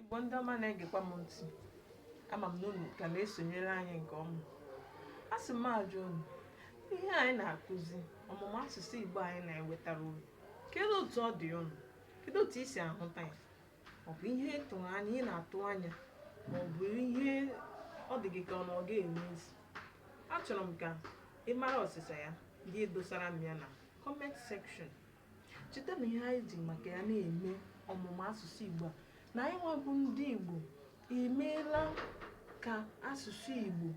Igbo ndị ọma na-egekwa m ntị ama m na unu ka na-esonyere anyị nke ọma a sị m ajụ unu ihe anyị na-akụzi ọmụmụ asụsụ Igbo anyị na-ewetara unu kedu otu ọ dị unu kedu otu i si ahụta ya ọ bụ ihe ị tụrụ anya ị na-atụ anya ma ọ bụ ihe ọ dị gị ka ọ na ọ ga-eme isi achọrọ m ka ị mara ọsịsa ya gị edosara m ya na comment section cheta na ihe anyị ji maka ya na-eme ọmụmụ asụsụ Igbo a na anyị nwa bụ ndị Igbo emeela ka asụsụ Igbo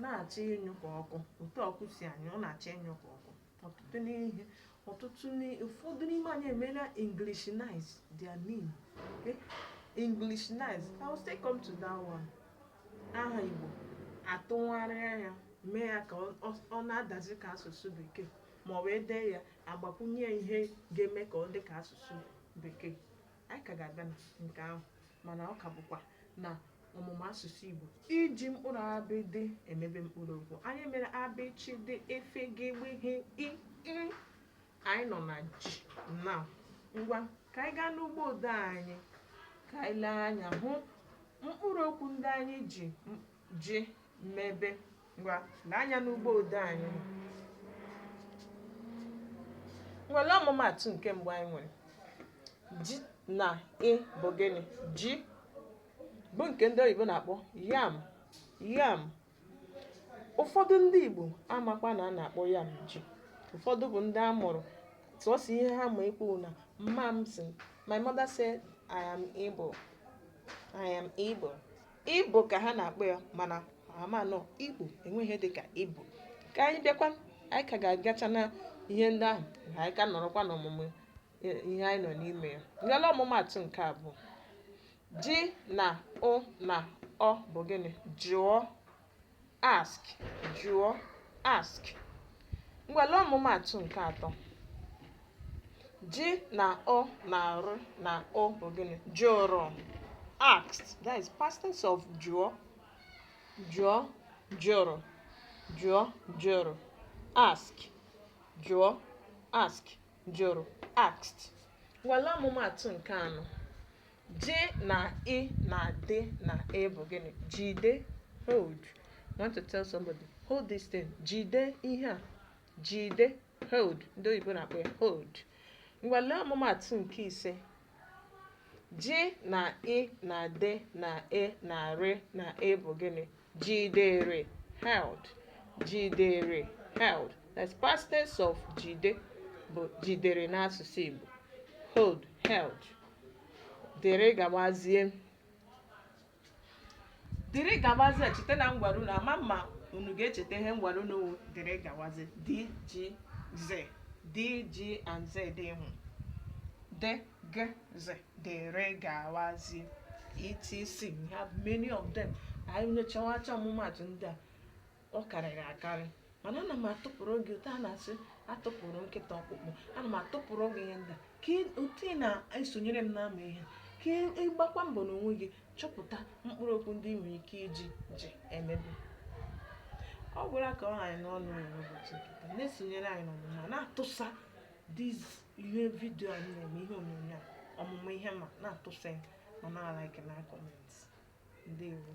na-achọ ịnyụ ka ọkụ otu ọkụ si anyụ ọ na-achọ ịnyụ ka ọkụ ọtụtụ n'ihe ọtụtụ ụfọdụ n'ime anyị emeela Englishnize their name eh, Englishnize I will still come to that one aha Igbo atụgharịa ya mee ya ka ọ na-adazi ka asụsụ bekee ma ọ bụ e dee ya agbakwunye ya ihe ga-eme ka ọ dị ka asụsụ bekee anyị ka ga-abịa na nke ahụ mana ọ ka bụkwa na ọmụmụ asụsụ igbo iji mkpụrụ abịdịị emebe mkpụrụ okwu anyị mere a bị chị dị e fị gị gbị ghị i ị anyị nọ na jị na ngwa ka anyị gaa n'ụgbọ odee anyị ka anyị lee anya hụ mkpụrụ okwu ndị anyị ji m- jị mebe ngwa lee anya n'ụgbọ odee anyị ngwa lee ọmụmaatụ nke mbụ anyị nwere jị na i bụ gịnị ji bụ nke ndị oyibo na-akpọ yam yam ụfọdụ ndị igbo amakwa na a na-akpọ yam ji ụfọdụ bụ ndị a mụrụ sọsọ ihe ha ma ekwu na mama m sị my mother said I am Ibo I am Ibo Ibo ka ha na-akpọ ya mana ha ama na ọ Igbo enweghị ihe dịka Ibo ka anyị bịakwa anyị ka ga-agacha na ihe ndị ahụ ka anyị ka nọrọkwa n'ọmụmụ i- ihe anyị nọ n'ime ya ngwa lee ọmụmaatụ nke abụọ jị na ụ na ọ bụ gịnị jụọ ask jụọ ask ngwa lee ọmụmaatụ nke atọ jị na ụ na rị na ụ bụ gịnị jụrụ asked that is past tense of jụọ jụọ jụrụ jụọ jụrụ ask jụọ ask jụrụ asked ngwa lee ọmụmaatụ nke anọ Jị na i na dị na e bụ gịnị? Jide, hold. You want to tell somebody, hold this thing. Jide ihe a. Jide, hold. Ndị oyibo na-akpọ ya hold. Ngwa lee ọmụmaatụ nke ise. Jị na i na dị na e na rị na e bụ gịnị? jidere held jidere held that's past tense of jide bụ jidere n'asụsụ Igbo hold held dịrị gawazie dịrị gawazie cheta na m gwara unu ama m ma unu ga-echeta ihe m gwara unu wụ dịrị gawazie d g z d g and z ị hụ d G, Z, dere gawazie etc we have many of them anyị nyochawacha ọmụmatụ ndị a ọ karịrị akarị mana ana m atụpụrụ gị otu a na-esi atụpụrụ nkịta ọkpụkpụ ana m atụpụrụ gị ihe ndị a ka ị- otu ị na-esonyere m na-amụ ihe ka ị- ị gbakwa mbọ n'onwe gị chọpụta mkpụrụ okwu ndị ị nwere ike iji ji mebe ọ gwụla ka ọ ha anyị n'ọnụ n'ụbọchị nke taa na-esonyere anyị n'ọmụmụ a na-atụsa This ihe video anyị na-eme ihe onyonyo a ọmụmụ ihe ma na-atụsa ma na-alike na comment ndewo